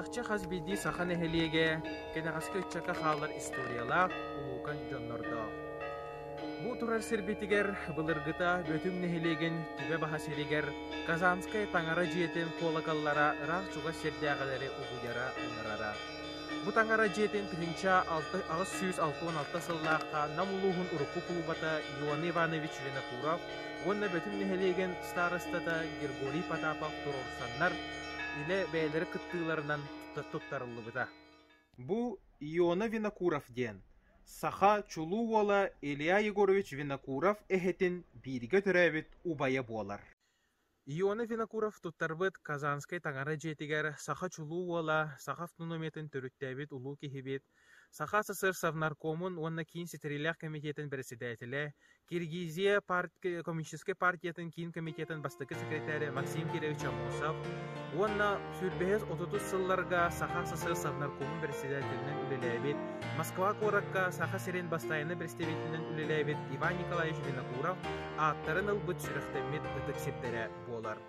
Чахчы хас биирдии саха нэһилиэгэ кэнэҕэски ыччакка хаалар историялаах улуукан дьоннордоох. Бу турар сирбитигэр былыргыта Бөтүҥ нэһилиэгин түбэ баһа сиригэр Казанскай таҥара дьиэтин куолакаллара ыраах чугас сирдээҕилэри угуйара-мунарара Бу таҥара дьиэтин тыһыынча алта, аҕыс сүүс алта уон алта сыллаахха Нам улууһун урукку кулубата Иоанн Иванович Винокуров уонна Бөтүн нэһилиэгин старостата Григорий Потапов туруорсаннар, илэ бэйэлэрин кыттыыларынан туттарыллыбыта. Бу Иона Винокуров диэн саха чулуу уола Илья Егорович Винокуров эһэтин бииргэ төрөөбүт убайа буолар. Ионов Винокуров туттарбыт Казанскай таҥара дьиэтигэр саха чулуу уола, саха автономиятын төрүттээбит улуу киһибит, Саха СССР Совнаркомун уонна киин ситэриилээх кэмитиэтин бэрэссэдээтэлэ, Киргизия парт- коммунистическай партиятын киин комитетын бастакы секретаря Максим Кирович Амосов уонна сүрбэһис отутус сылларга Саха СССР Совнаркомун бэрэссэдээтэлинэн үлэлээбит, Москва куоракка Саха сирин бастайына бэрэстэбиитэлинэн үлэлээбит Иван Николаевич Винокуров ааттарын ылбыт сүрэхтэммит ытык сирдэрэ буолар.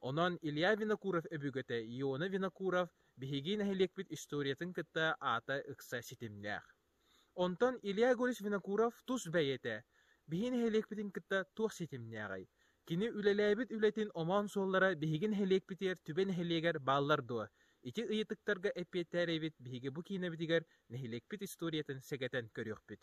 Онон Илья Винокуров-өбүгэтэ Иона Винокуров биһиги нэһилиэкпит историятын кытта аата ыкса ситимнээх. Онтон Илья Егорович Винокуров тус бэйэтэ биһи нэһилиэкпитин кытта туох ситимнээҕий? Кини үлэлээбит үлэтин омоон суоллара биһиги нэһилиэкпитигэр түбэ нэһилиэгэр бааллар дуо? Ити ыйытыктарга эппиэттээн эбит биһиги бу киинэбитигэр нэһилиэкпит историятын сэгэтэн көрүөхпүт.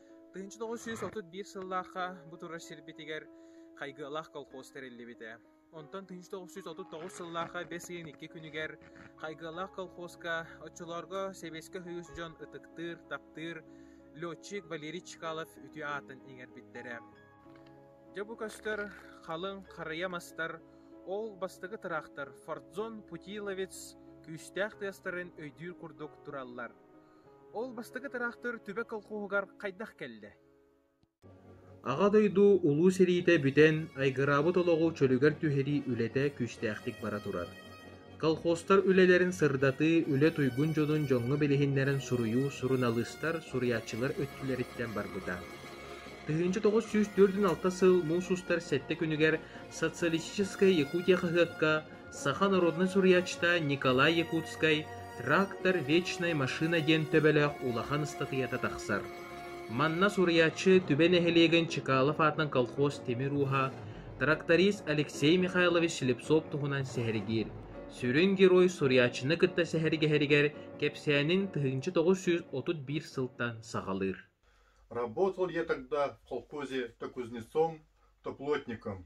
Тыынча тоҕус сүүс отут биир сыллаахха бу турар сирбитигэр Хайгыалаах колхоз тэриллибитэ. Онтон тыынча тоҕус сүүс отут тоҕус сыллаахха бэс ыйын икки күнүгэр Хайгыалаах колхозка оччолорго сэбиэскэ үһүс дьон ытыктыыр, таптыыр летчик Валерий Чкалов үтүө аатын иҥэрбиттэрэ. Дьэ бу көстөр халыҥ харыйа мастар, ол бастакы тыраахтар Фордзон Путиловец күүстээх тыастарын өйдүүр курдук тураллар. Ол бастакы тыраахтыр түбэ колхуоһугар хайдах кэллэ? Аҕа дойду Улуу сэриитэ бүтэн, айгыраабыт олоҕу чөлүгэр түһэрии үлэтэ күүстээхтик бара турар. Колхозтар үлэлэрин сырдатыы, үлэ туйгун дьонун дьоҥҥо билиһиннэрэн суруйуу суруналыыстар, суруйааччылар өттүлэриттэн барбыта. Тыһыынча тоҕус сүүс төрт алта сыл муус устар сэттэ күнүгэр Социалистическая Якутия хаһыакка Саха норуодунай суруйааччыта Николай Якутскай «Трактор вечной машины» диэн төбөлөөх улахан ыстатыйата тахсар. Манна суруйааччы Түбэ нэһилиэгин Чекалов аатынан колхоз тимир ууһа, тракторист Алексей Михайлович Слепцов туһунан сэһэргиир. Сүрүн герой суруйааччыны кытта сэһэргэһэригэр кэпсээнин тыһыынча тоҕус сүүс отут биир сылтан саҕалыыр. Работал я тогда в колхозе то кузнецом, то плотником,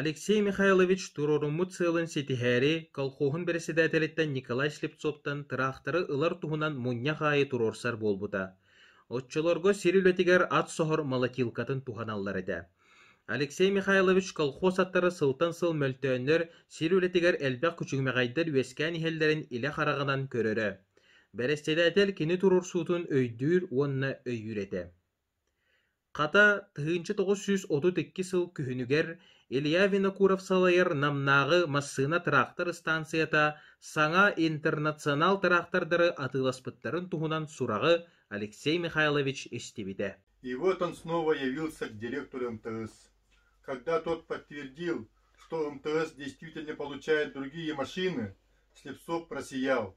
Алексей Михайлович туруоруммут сыалын ситиһээри, колхуоһун бэрэссэдээтэлиттэн Николай Слепцовтан тыраахтары ылар туһунан мунньах аайы туруорсар буолбута. Оччолорго сир үлэтигэр ат соһор молотилкатын туһаналлар этэ. Алексей Михайлович колхоз аттара сылтан сыл мөлтөөннөр сир үлэтигэр элбэх күчүмэҕэйдэр үөскээн иһэллэрин илэ хараҕынан көрөрө. Бэрэссэдээтэл кини туруорсуутун өйдүүр уонна өйүүр этэ. Хата, тыһыынча тоҕус сүүс отут икки сыл күһүнүгэр Илья Винокуров салайар Намнааҕы массыына тыраахтар ыстаансыйата саҥа интернационал тыраахтардары атыыласпыттарын туһунан сураҕы Алексей Михайлович истибитэ. И вот он снова явился директору МТС. Когда тот подтвердил, что МТС действительно получает другие машины, Слепцов просиял.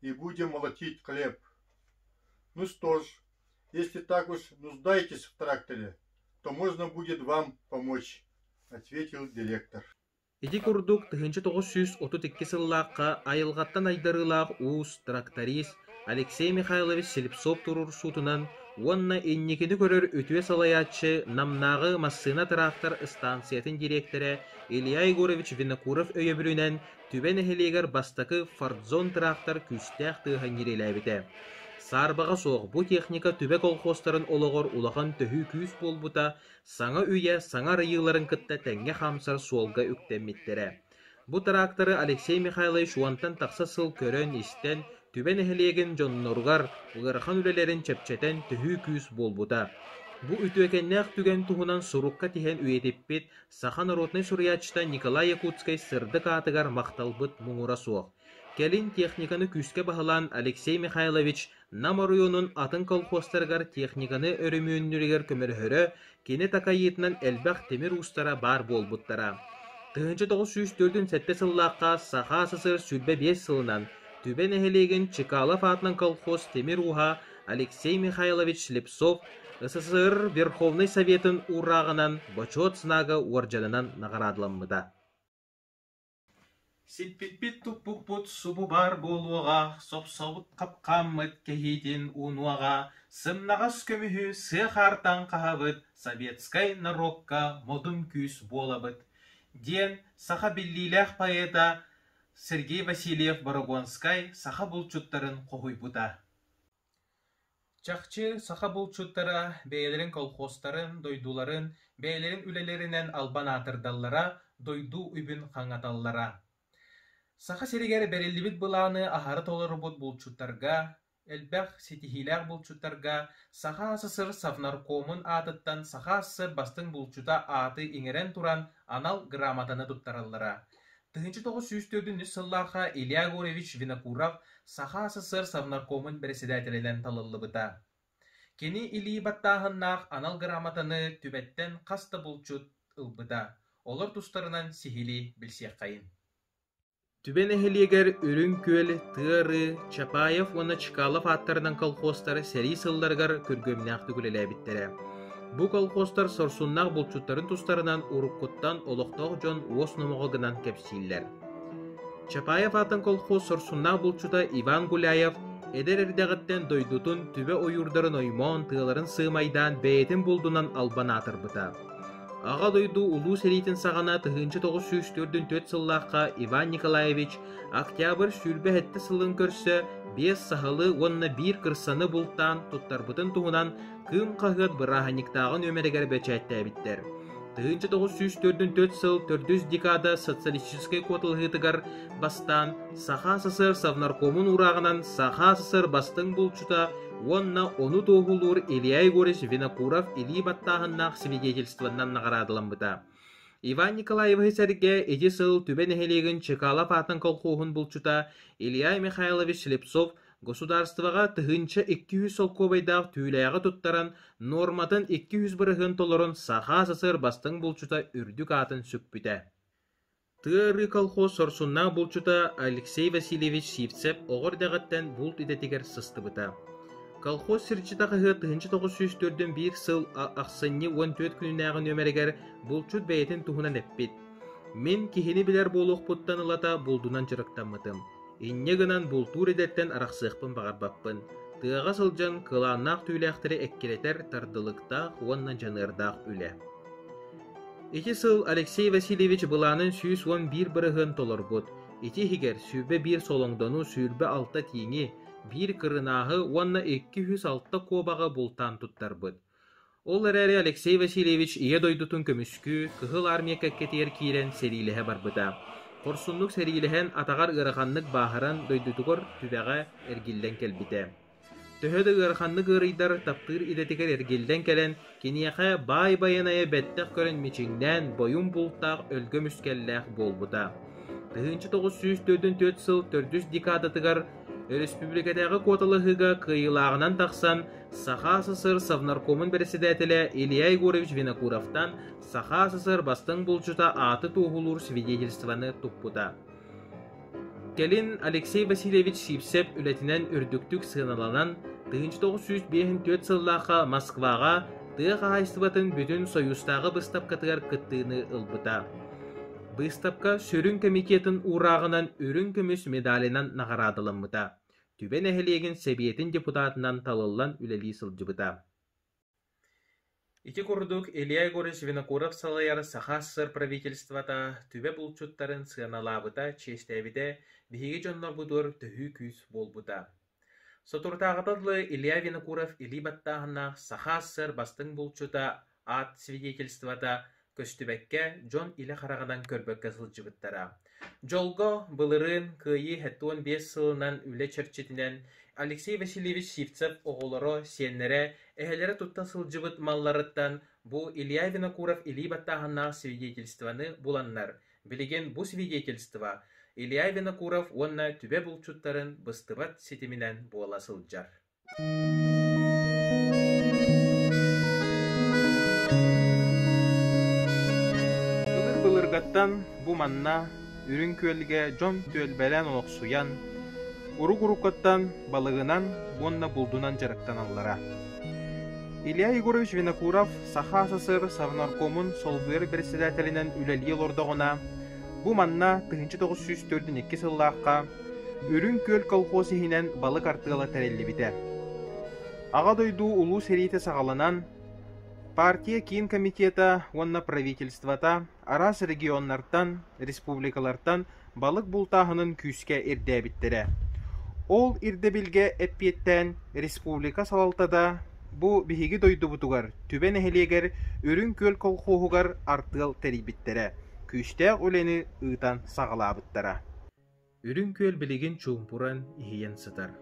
и будем молотить хлеб. Ну что ж, если так уж нуждаетесь в тракторе, то можно будет вам помочь, ответил директор. Ити курдук тыһыынча тоҕус сүүс отут икки сыллаахха айылҕаттан айдарыылаах уус тракторист Алексей Михайлович Слепцов туруорсуутунан уонна инникини көрөр үтүө салайааччы Намнааҕы массыына-тыраактар ыстаансыйатын дириэктэрэ Илья Егорович Винокуров өйөбүлүнэн Түбэ нэһилиэгэр бастакы Фордзон тыраахтар күүстээх тыаһа ньирилээбитэ. Саарбаҕа суох бу техника түбэ колхуостарын олоҕор улахан төһүү күүс буолбута, саҥа үйэ саҥа арыйыыларын кытта тэҥҥэ хаамсар суолга үктэммиттэрэ. Бу тыраактары Алексей Михайлович уонтан тахса сыл көрөн-истэн, Түбэ нэһилиэгин дьонноругар ыарахан үлэлэрин чэпчэтэн төһүү күүс буолбута. Бу үтүөкэннээх түгэн туһунан сурукка тиһэн үйэтиппит Саха норуотунай суруйааччыта Николай Якутскай сырдык аатыгар махталбыт муҥура суох. Кэлин техниканы күүскэ баһылаан Алексей Михайлович Нам оройуонун атын колхозтарыгар техниканы өрөмүөннүүрүгэр көмөлөһөрө, кини такайыытынан элбэх тимир уустара баар буолбуттара. тыһыынча тоҕус сүүс төрдүн сэттэ сыллаахха Саха СССР сүүрбэ биэс сылынан Түбэ нэһилиэгин Чекалов аатынан колхоз тимир ууһа Алексей Михайлович Слепцов СССР Верховнай Советын уурааҕынан Бочуот знага уордьанынан наҕараадаламмыта. Сиппиппит-туппуппут субу баар буолуоҕа, сопсобут хапкааммыт кэһиитин уунуоҕа, сымнаҕас көмүһү сыа хаартан хаһабыт советскай норуокка модун күүс буолабыт, диэн саха биллиилээх поэта Сергей Васильев Борогонскай саха булчуттарын хоһуйбута. Чахчы саха булчуттара бэйэлэрин колхозтарын, дойдуларын бэйэлэрин үлэлэринэн албан аатырдаллара, дойду үбүн хаҥаталлара. Саха сиригэр бэриллибит былааны аһара толорубут булчуттарга, элбэх ситиһиилээх булчуттарга Саха СССР Совнаркомун аатыттан Саха СССР бастыҥ булчута ааты иҥэрэн туран анал грамотаны туттараллара тыһыынча тоҕус сүүс төрдүнчү сыллаахха Илья Гурьевич Винокуров Саха СССР Совнаркомун бэрэссэдээтэлинэн талыллыбыта. Кини илии баттааһыннаах анал грамотаны түбэттэн хас да булчут ылбыта, олор тустарынан сиһилии билсиэххэйин Түбэ нэһилиэгэр Үрүҥ Күөл, Тыа-Ры, Чапаев уонна Чкалов ааттарынан колхозтар сэрии сылларыгар күргүөмнээх үлэлээбиттэрэ. Бу колхозтар сорсуннаах булчуттарын тустарынан уруккуттан олохтоох дьон уос номоҕо гынан кэпсииллэр. Чапаев аатын колхоз сорсуннаах булчута Иван Гуляев эдэр эрдэҕиттэн дойдутун түбэ ойуурдарын оймоон тыаларын сыымайдаан бэйэтин булдунан албан аатырбыта. Аҕа дойду улуу сэриитин саҕана тыһыынча тоҕус сүүс төрдүн төрт сыллаахха Иван Николаевич октябрь сүүрбэ сэттэ сылын көрсө биэс саһылы уонна биир кырсаны бултаан туттарбытын туһунан Кыым хаһыат бырааһынньыктааҕы нүөмэригэр бэчээттээбиттэр. Тыһыынча тоҕус сүүс төрдүн төрт сыл төрдүс декада социалистическай куоталаһыытыгар бастаан Саха СССР Совнаркомун урааҕынан Саха СССР бастыҥ булчута уонна ону туоһулуур Илья Егорович Винокуров илии баттааһыннаах свидетельствонан наҕараадаламмыта. Иван Николаевы сэргэ ити сыл Түбэ нэһилиэгин Чекалап аатын колхуоһун булчута Илья Михайлович Слепцов Государствоҕа тыһыынча икки сүүс солкуобайдаах түүлээҕи туттаран, нуорматын икки сүүс бырыһыан толорон саха СССР бастыҥ булчута үрдүк аатын сүкпүтэ. Тыа ырыы колхоз сорсуннаах булчута Алексей Васильевич Сивцев оҕо эрдэҕиттэн булт идэтигэр сыстыбыта. Колхоз сирчитэ хаһыат тыһыынча тоҕус сүүс төрдүн биир сыл ахсынньы уон түөрт күннээҕи нөмэригэр булчут бэйэтин туһунан эппит. Мин киһини билэр буолуохпуттан ылата булдунан дьарыктаммытым. Инньэ гынан бултуур идэттэн арахсыахпын баҕарбаппын, тыаҕа сылдьан кылааннаах түүлээхтэри эккирэтэр тардылыктаах уонна дьаныардаах үлэ. Ити сыл Алексей Васильевич былаанын сүүс уон биир бырыһыан толорбут, ити иһигэр сүүрбэ биир солоҥдону, сүүрбэ алта тииҥи, биир кырынааһы уонна икки үс алта куобаҕы бултаан туттарбыт. Ол эрээри Алексей Васильевич Ийэ дойдутун көмүскүү, Кыһыл Армия кэккэтигэр киирэн сэриилэһэ барбыта. Хорсуннук сэриилэһэн атаҕар ыараханнык бааһыран дойдутугар түбэҕэ эргиллэн кэлбитэ. Төһө да ыараханнык ыарыйдар, таптыыр идэтигэр эргиллэн кэлэн, киниэхэ баай байанайы бэттэх көрөн мичиҥнээн, бойум бултаах өлгөм үскэллээх буолбута. Тыһыынча тоҕус сүүс төрдүн төрүт сыл төрдүс декадатыгар өрөспүүбүлүкэтээҕи куоталаһыыга кыайыылааҕынан тахсан, Саха СССР Совнаркомун бэрэссэдээтэлэ Илья Егорович Винокуровтан Саха СССР бастыҥ булчута ааты туоһулуур свидетельствоны туппута. Кэлин Алексей Васильевич Сипсеп үлэтинэн үрдүктүк сыаналанан, 1904 сыллаахха Москваҕа тыа хаһаайыстыбатын бүтүн Союзтааҕы быстапкатыгар кыттыыны ылбыта. Быстапка сүрүн комитетын уурааҕынан үрүҥ көмүс медалынан наҕараадаламмыта. Түбэ нэһилиэгин Сэбиэтин депутатынан талыллан үлэлии сылдьыбыта. Ити курдук Илья Егорович Винокуров салайар Саха СССР правительствота түбэ булчуттарын сыаналаабыта, чиэстээбитэ, биһиги дьоннорбутугар төһүү күүс буолбута. Соторутааҕыта дылы Илья Винокуров илии баттааһыннаах Саха СССР бастыҥ булчута аат свидетельствота көстүбэккэ дьон илэ хараҕынан көрбөккө сылдьыбыттара. Дьолго, былырыын кыайыы иһиттэн биэс сылынан үлэ чэрчитинэн Алексей Васильевич Сивцев оҕолоро, сиэннэрэ, эһэлэрэ тутта сылдьыбыт малларыттан бу Илья Винокуров илии баттааһыннаах свидетельствоны буланнар, билигин бу свидетельство Илья Винокуров уонна түбэ булчуттарын быстыбат ситиминэн буола сылдьар. Былыр былыргаттан бу манна Үрүҥ Күөлгэ дьон-түөл бэлээн олохсуйан, урук-уруккаттан балыгынан уонна булдунан дьарыктаналлара. Илья Егорович Винокуров Саха СССР Совнаркомун солбуйар председателинэн үлэлии олордоҕуна, Бу манна тыһыынча тоҕус сүүс төрдүн икки сыллаахха Үрүҥ Күөл колхоз иһинэн балык артыала тэриллибитэ. Аҕа дойду Улуу сэриитэ саҕаланан, партия киин комитета уонна правительствота араас регионнартан, республикалартан балык бултааһынын күүскэ ирдээбиттэрэ. Ол ирдэбилгэ эппиэттээн республика салалтата Бу биһиги дойдубутугар, Түбэ нэһилиэгэр Үрүҥ Күөл колхуоһугар артыал тэрийбиттэрэ, күүстээх үлэни ыытан саҕалаабыттара. Үрүҥ Күөл билигин чуумпуран, иһийэн сытар.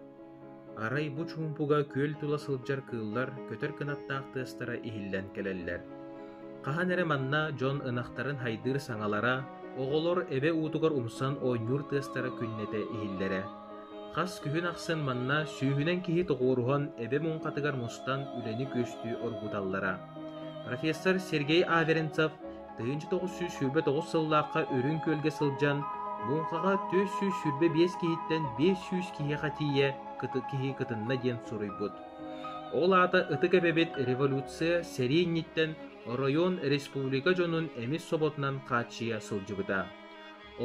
Арай бу чуумпуга күөл тула сылдьар кыыллар көтөр кынаттаах тыастара иһиллэн кэлэллэр. Хаһан эрэ манна дьон ынахтарын хайдыыр саҥалара, оҕолор эбэ уутугар умсан оонньуур тыастара күннэтэ иһиллэрэ. Хас күһүн ахсын манна сүүһүнэн киһи тоҕуоруһан эбэ муҥхатыгар мустан үлэни күөстүү оргуталлара. Профессор Сергей Аверинцев тыһыынча тоҕус сүүс сүүрбэ тоҕус сыллаахха Үрүҥ Күөлгэ сылдьан муҥхаҕа төрт сүүс сүүрбэ биэс киһиттэн биэс сүүс киһиэхэ тиийэ киһи кытынна диэн суруйбут. Ол аата ытык эбэбит революция сэрии инниттэн оройуон республика дьонун эмис соботунан хааччыйа сылдьыбыта.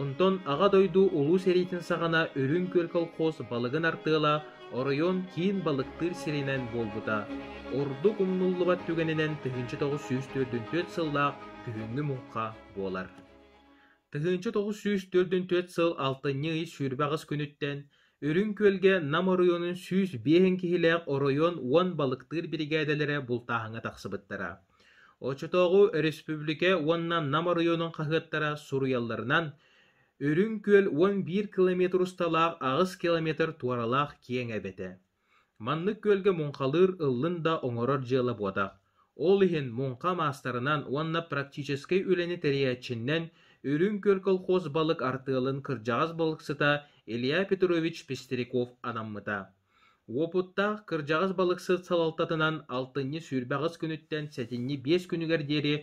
Онтон Аҕа дойду Улуу сэриитин саҕана Үрүҥ Күөл колхоз балыгын артыала оройуон киин балыктыыр сиринэн буолбута. Ордук умнуллубат түгэнинэн тыһыынча тоҕус сүүс төрдүн түөрт сыллаах күһүҥҥү муҥха буолар. Тыһыынча тоҕус сүүс төрдүн түөрт сыл алтынньы ый сүүрбэ аҕыс күнүттэн Үрүҥ Күөлгэ Нам оройуонун сүүс биэһин киһилээх оройуон уон балыктыыр биригээдэлэрэ бултааһыҥҥа тахсыбыттара. Оччотооҕу өрөспүүбүлүкэ уонна Нам оройуонун хаһыаттара суруйалларынан, Үрүҥ Күөл уон биир километр усталаах аҕыс километр туоралаах киэҥ эбэтэ. Маннык күөлгэ муҥхалыыр ыллын да оҥорор дьыала буотах. Ол иһин муҥха маастарынан уонна практическай үлэни тэрийээччинэн Үрүҥ Күөл колхоз балык артыалын кырдьаҕас балыксыта Илья Петрович Пестряков анаммыта. Уопуттаах кырдьаҕас балыксыт салалтатынан алтынньы сүүрбэҕис күнүттэн сэтинньи биэс күнүгэр диэри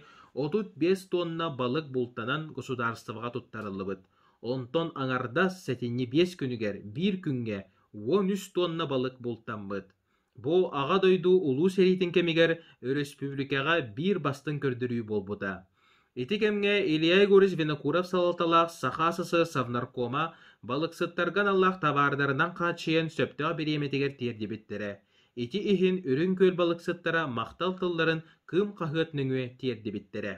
отут биэс туонна балык бултанан государствоҕа туттарыллыбыт. Онтон аҥардас сэтинньи биэс күнүгэр биир күҥҥэ уон үс туонна балык бултаммыт. Бу Аҕа дойду Улуу сэриитин кэмигэр өрөспүүбүлүкэҕэ биир бастыҥ көрдөрүү буолбута. Ити кэмҥэ Илья Егорович Винокуров салалталаах Саха СССРнаркома балыксыттарга аналлаах табаардарынан хааччыйан сөптөөх бириэмэтигэр тиэрдибиттэрэ. Ити иһин Үрүҥ Күөл балыксыттара махтал тылларын Кым хаһыат нөҥүө тиэрдибиттэрэ.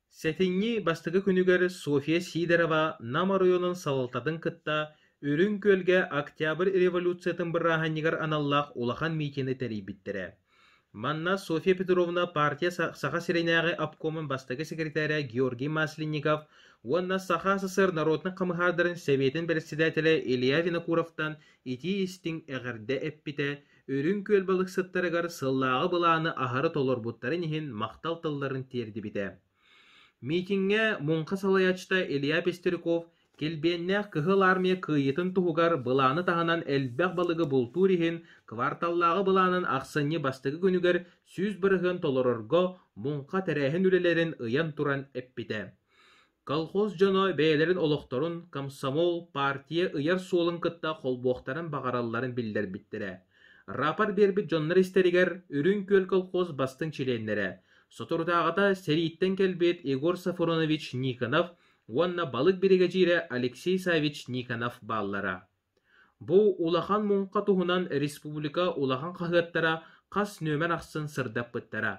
Сэтинньи бастакы күнүгэр Софья Сидорова Нам оройуонун салалтатын кытта Үрүҥ Күөлгэ Октябрь революциятын бырааһынньыгар аналлаах улахан миитини тэрийбиттэрэ. Манна Софья Петровна партия Саха сиринээҕи обкомун бастакы секретаря Георгий Масленников уонна Саха СССР норуотунай хамыһаардарын Сэбиэтин бэрэссэдээтэлэ Илья Винокуровтан итии-истиҥ эҕэрдэ эппитэ, Үрүҥ Күөл балыксыттарыгар сыллааҕы былааны аһары толорбуттарын иһин махтал тылларын тиэрдибитэ. Миитиҥҥэ муҥха салайааччыта Илья Пестряков Килбиэннээх Кыһыл Армия кыайыытын туһугар былааны таһынан элбэх балыгы бултуур иһин кварталлааҕы былаанын ахсынньы бастакы күнүгэр сүүс бырыһыан толорорго муҥха тэрээһин үлэлэрин ыйан туран эппитэ. Колхоз дьоно бэйэлэрин олохторун комсомол, партия ыйар суолун кытта холбуохтарын баҕаралларын биллэрбиттэрэ, рапорт биэрбит дьоннор истэригэр Үрүҥ Күөл колхоз бастыҥ чилиэннэрэ, соторутааҕыта сэрииттэн кэлбит Егор Сафронович Никонов уонна балык биригэдьиирэ Алексей Савич Никонов бааллара. Бу улахан муҥха туһунан республика улахан хаһыаттара хас нүөмэр ахсын сырдаппыттара.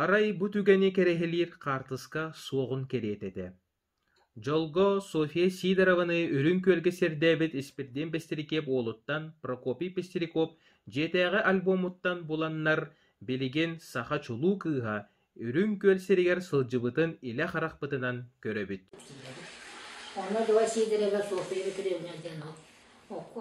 Арай бу түгэни кэрэһилиир хаартыска суоҕун кэриэтэ этэ Дьолго Софья Сидорованы Үрүҥ Күөлгэ сэрдээбит Испирдиэн Бэстирикиэп уолуттан Прокопий Пестряков дьиэтээҕи альбомуттан буланнар билигин саха чулуу кыыһа Үрүҥ Күөл сиригэр сылдьыбытын илэ харахпытынан көрөбүт Онно Дуо Сидорова Софья Петровна диэн Окко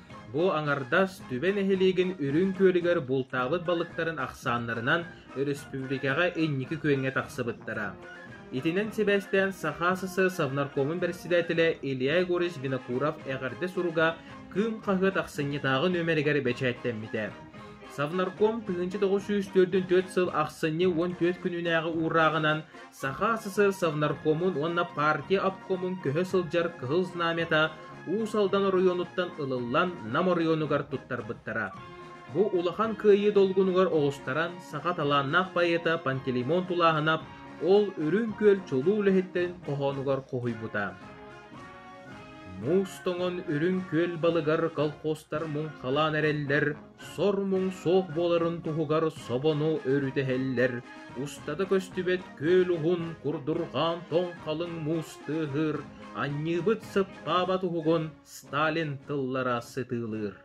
Бу аҥардас Түбэ нэһилиэгин Үрүҥ Күөлүгэр бултаабыт балыктарын ахсааннарынан өрөспүүбүлүкэҕэ инники күөҥҥэ тахсыбыттара. Итинэн сибээстээн Саха СССР бэрэссэдээтэлэ Илья Егорович Винокуров эҕэрдэ суруга Кыым хаһыат ахсынньытааҕы нүмеригэр бэчээттэммитэ. Совнарком тыһыынча тоҕус сүүс төрдүн төрт сыл ахсынньы уон түөрт күннээҕи уурааҕынан Саха СССР-Совнаркомун уонна партия обкомун көһө сылдьар Кыһыл Знамята Уус Алдан оройуонуттан ылыллан Нам оройуонугар туттарбыттара. Бу улахан кыайыы долгунугар оҕустаран саха талааннаах поэта Пантелеймон тулааһынап ол Үрүҥ Күөл чулуу үлэһиттэрин хоһоонугар хоһуйбута. Муус тоҥон Үрүҥ Күөл балыгар колхозтар муҥхалаан эрэллэр, сор-муҥ суох буоларын туһугар собону өрүтэһэллэр, устата көстүбэт күөл уһун курдурҕаан тоҥ халыҥ муус тыаһыыр, анньыыбыт сыппаабат уһугун Сталин тыллара сытыылыыр.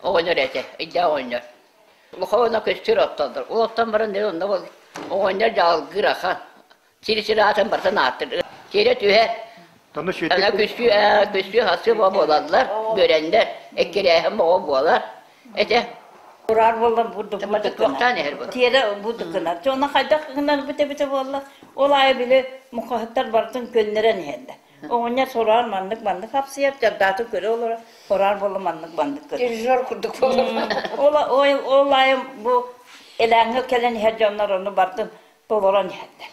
Оҕонньор этэ, өйдөөх оҕонньор. Улахаана көстөр оттоотор. Ол оттон баран дьэ онно оҕонньор дьалгыр ахан. Сир-сир аатын барытын ааттыыр. Сиэрэ түһэр. Аны күссүү ээ, күссүү-хасыы боо буолаллар, бөрөннөр, эккирээһин боо буолар. Этэ. Ураар буоллар бу дукмата туохтаан иһэр бу. Тиэрэ бу дукунар. Дьону хайдах гынар бите бите буолла. Ол аайы били мухаһыттар барытын көннөрөн иһэллэр. Оҕонньор сороҕор маннык маннык хапсыйар, дьардаатын көрө олорор, сороҕор буолла маннык маннык көрөр. Режиссер курдук буолар. Ол ол ол аайы бу элээҥҥэ кэлэн иһэр дьоннор ону бартын толорон иһэллэр.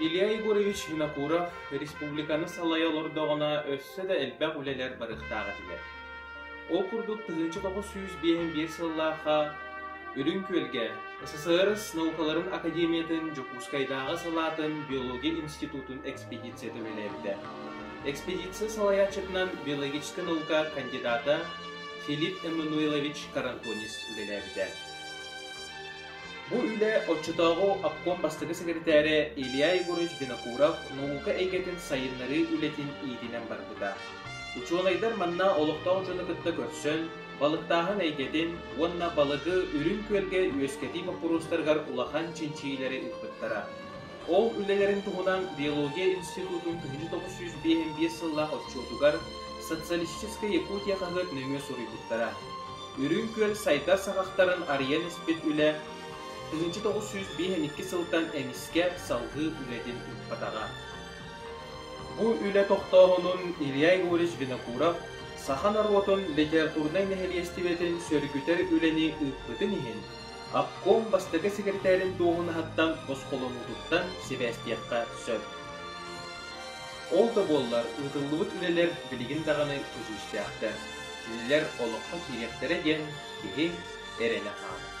Илья Егорович Винокуров республиканы салайа олордоҕуна өссө да элбэх үлэлэр барыахтаах этилэр. Ол курдук тыһыынча тоҕус сүүс биэһин биир сыллаахха Үрүҥ Күөлгэ СССР наукаларын академиятын Дьокуускайдааҕы салаатын биология институтун экспедициятын үлэлээбитэ. Экспедиция салайааччытынан биологическай наука кандидата Филипп Эммануилович Карантонис үлэлээбитэ. Бу үлэ оччотооҕу обком бастакы сэкирэтээрэ Илья Егорович Винокуров наука эйгэтин сайыннарыы үлэтин иитинэн барбыта. Учуонайдар манна олохтоох дьону кытта көрсөн, балыктааһын эйгэтин уонна балыгы үрүҥ күөлгэ үөскэтии боппуруостарыгар улахан чинчийиилэри ыыппыттара. Ол үлэлэрин туһунан биология институтун тыһыынча тоҕус сүүс биэс сыллаах отчуотугар Социалистическая Якутия хаһыат нөҥүө суруйбуттара. Үрүҥ Күөл сайдар саҕахтарын арыйан испит үлэ тыһыынча тоҕус сүүс биэс сылтан эмискэ салгыы үлэтин ыппатаҕа. Бу үлэ тохтооһунун Илья Егорович Винокуров саха норуотун литературнай нэһилиэстибэтин сөргүтэр үлэни ыыппытын иһин Обком бастакы сэкирэтээрин дуоһунаһыттан босхолонуутуттан сибээстиэххэ сөп. Ол да буоллар ыытыллыбыт үлэлэр билигин даҕаны көдьүүстээхтэр. Кинилэр олоххо киириэхтэрэ диэн киһи эрэнэ хаалар.